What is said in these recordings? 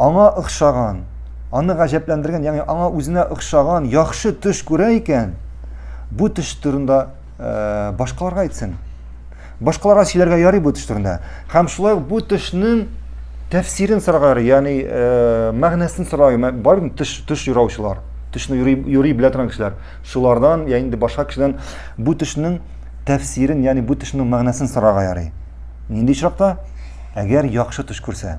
Аңа охшаган, аны гаҗәпләндергән, ягъни аңа үзенә охшаган яхшы төш күрә икән, бу төш турында э, башкаларга әйтсен. Башкаларга сөйләргә ярый бу төш турында. Һәм шулай ук бу төшнең тәфсирен сорарга ярый, ягъни э, мәгънәсен сорарга, бар бит төш төш юраучылар, төшне юри, юри белә торган кешеләр. Шулардан, я инде башка кешедән бу төшнең тәфсирен, ягъни бу төшнең мәгънәсен сорарга ярый. Нинди очракта? Әгәр яхшы төш күрсә.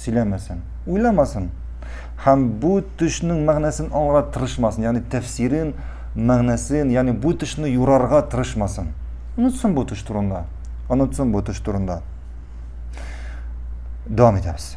сөйләмәсен, уйламасын һәм бу төшнең мәгънәсен аңларга тырышмасын, ягъни тәфсирен, мәгънәсен, ягъни бу төшне юрарга тырышмасын. Онытсын бу төш турында. Онытсын бу төш турында. Дәвам итәбез.